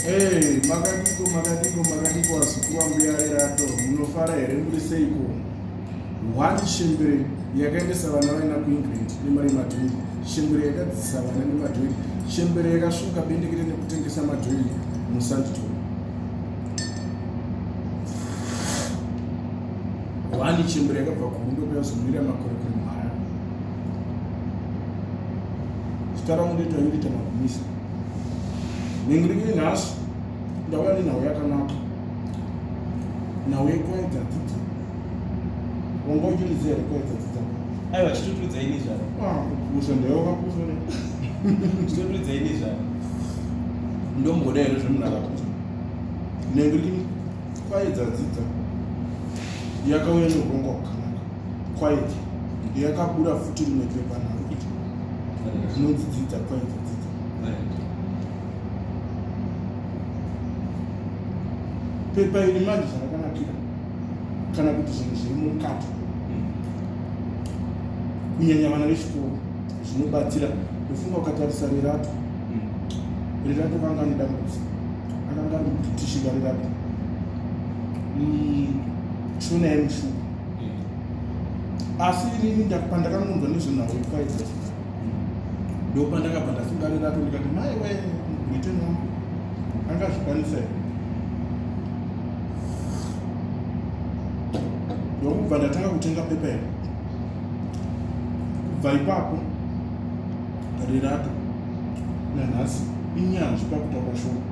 Hey, makadiko makadiko makadiko vazukuru vambuya rerato munofara here muri seiko one shembere yakaendesa vana vaina kuengland nemari yemadhiri shembere yakadzisa vana nemadhiri shembere yakasvuka bendekete nekutengesa madhiri musandito one shembere yakabva kuhundo kuyazomirira makore kuri mhara zita rangu ndoita yurita magumisa nengirikiri nhasi ndauya nenhau yakanaka nhau yekuedza dzidza wanga uchiriziva here kuedza dzidza aiwa chitotudza ini zvaro ah, kupusa ndaiwa kapusa ne chitotudza ini zvaro ndomboda here zvemunhu akapusa nengirikiri kwaedza dzidza yakauya neurongwa hwakanaka Quiet. Yakabura futi rimwe pepa naro kuti rinonzi dzidza quiet dzidza. Pepa iri manje zvarakanakira kana kuti zvinhu zviri mukati kunyanya vana vechikoro zvinobatsira ndofunga ukatarisa rerato rerato kanga ane dambudziko akanga ari mubritishika rerato mm, chona yemushuku asi inini pandakangonzwa nezvenhau ipaidza ndo pandakabva ndasungarira to ndikati mai we britain wangu angazvikwanisa here ndokubva ndatanga kutenga pepa iri kubva ipapo rirato nanhasi inyanzvi pakutaura shoko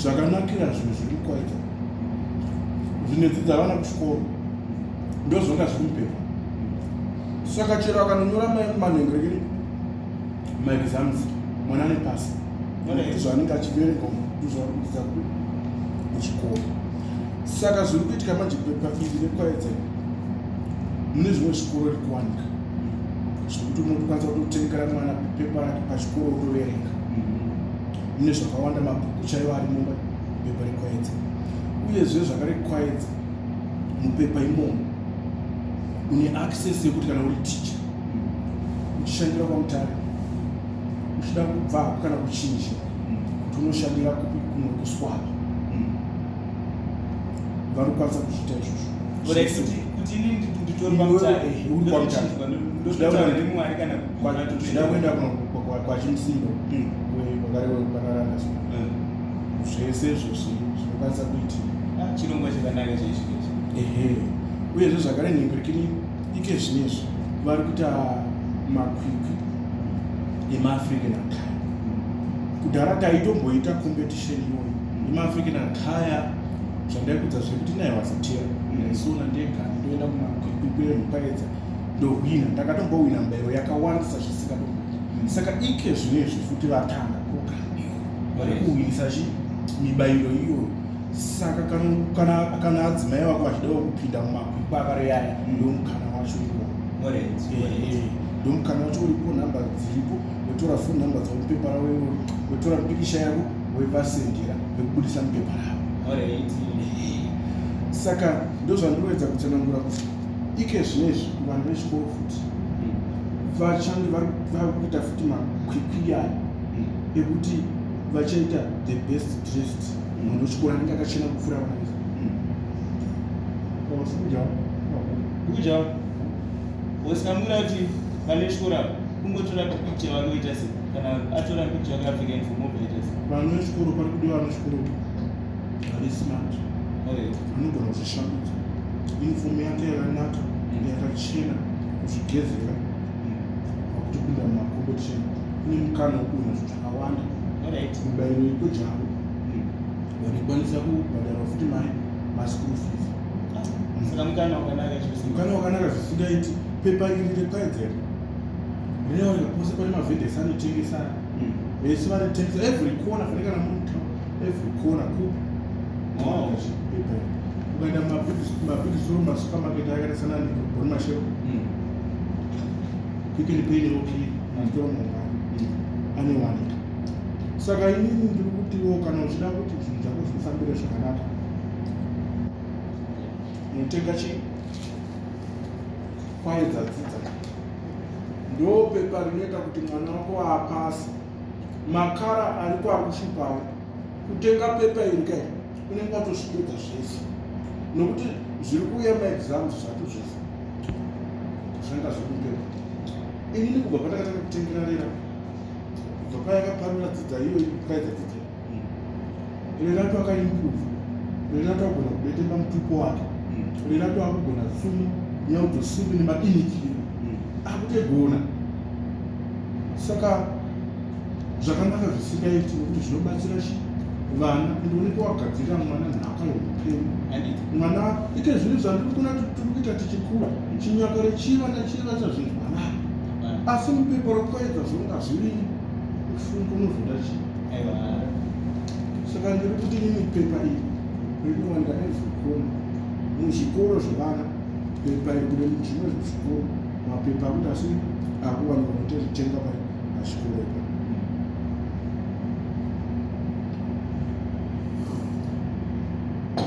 zvakanakira zvinhu zviri kwaita zvinodzidza vana kuchikoro ndozvanga zviri mupepa saka chero akanonyora manhengerekeri maexams mwana ane pasi zvaanenge achiverenga ndozvaanodzidza kuchikoro saka zviri kuitika manje pepa iri rekwaedza mune zvimwe zvikoro rikuwanika zvekuti unokwanisa kutotengera mwana pepa rake pachikoro otoverenga mm-hmm. mune zvakawanda mabhuku chaiwo ari mumba pepa rekwaedza uyezve zvakarekwaedza mupepa imomo une access yekuti kana uri ticha mm-hmm. uchishandira kwamutare uchida kubva hako kana kuchinja mm-hmm. kuti unoshandira kupi kumwe kuswapa vanokwanisa kuzviita izvozvo zvida kuenda kwachimusindo vagare vekukanaranda zvese izvo zvinokwanisa kuitika ah, chirongwa chakanaka chaizvizvi ehe uyezve zvakare nhengerekini ike zvinezvi vari kuita makwikwi emaafrican akaya kudhara taitomboita competition ndimaafrican ataya zvandaikudza zvekuti naye wasatiya ndaisona ndega ndoenda kumakwikwikwire mupaedza ndohwina ndakatombowina mbairo yakawandisa zvisingatombo saka ike zvine izvi futi vatanga kukandiwa vari kuhwinisa chi mibairo iyoyo saka kana adzimai vako vachidawo kupinda mumakwikwa akareyaya ndomukana wacho iwo ndomukana wacho uripo nhamba dziripo wotora phone number dzavo mupepa ravo iroro wotora mipikisha yavo woipasendera vekubudisa mupepa ravo saka ndozvandinoedza kutsanangura kuti ike zvinezvi vanhu vechikoro futi hmm. vachandi vari kuita futi makwikwiyani hmm. ekuti vachaita the best dressed hmm. munhu wechikoro anenge akachena kupfuura vana vese kuja kuja Boss kamura kuti pane shura kungotora picture vangoita se kana atora picture akapfeka informo vaita se. Vano shukuru pari kudi vano shukuru ari smart. Okay. Anogona kuzvishambidza. Inform yake yakanaka mm. yakachena kuzvigezera mm. pakuti kuda makombo chena kune mukana wekuona zvinhu zvakawanda mubayiro ikojavo mm. vanokwanisa kubhadhara futi mai maschool fees mukana wakanaka zvisingaiti pepa iri repaedzera rinowanika pose pane mavhindesi anotengesa hmm. vese vanotengesa every corner fanike kana muri mutown every corner kupi ukaenda mabhigistoro masupermarket akaita sana neboni mashero pikeni peni rokii matoro mangani anowanika saka inini ndiri kutiwo kana uchida kuti zvinhu zvako zvifambire zvakanaka munotenga chii kwaye dzadzidza ndo pepa rinoita kuti mwana wako apasi makara ari kwakushipawo kutenga pepa iri kai unenge watozvipedza zvese nokuti zviri kuuya maexams zvato zvese zvanga zvekupepa inini kubva pandakatanga kutengerarira kubva payakaparura dzidza iyoyi kwaidza dzidza Renato akaimprove Renato agona kubetemba mutupo wake mm. Renato akugona tsumo nyautosimbi nemadinikiro mm. akutegona saka zvakanaka zvisingaiti nekuti zvinobatsira chi vana ndioneke wagadzirira mwana nhaka yeupenyu mwana ite zvinhu zvandiri kuna tiri kuita tichikura chinyakare chivana chivasa zvinhu mwanaa asi mupepa rokukaedza zvonga zvirii kufunga unozoda chii saka ndiri kuti nini pepa iri rinowa ndakaizokona muzvikoro zvevana pepa iri kune zvimwe zvezvikoro mapepa akuti asi akuwanikwa kutozitenga pachikoro ipa Thank you.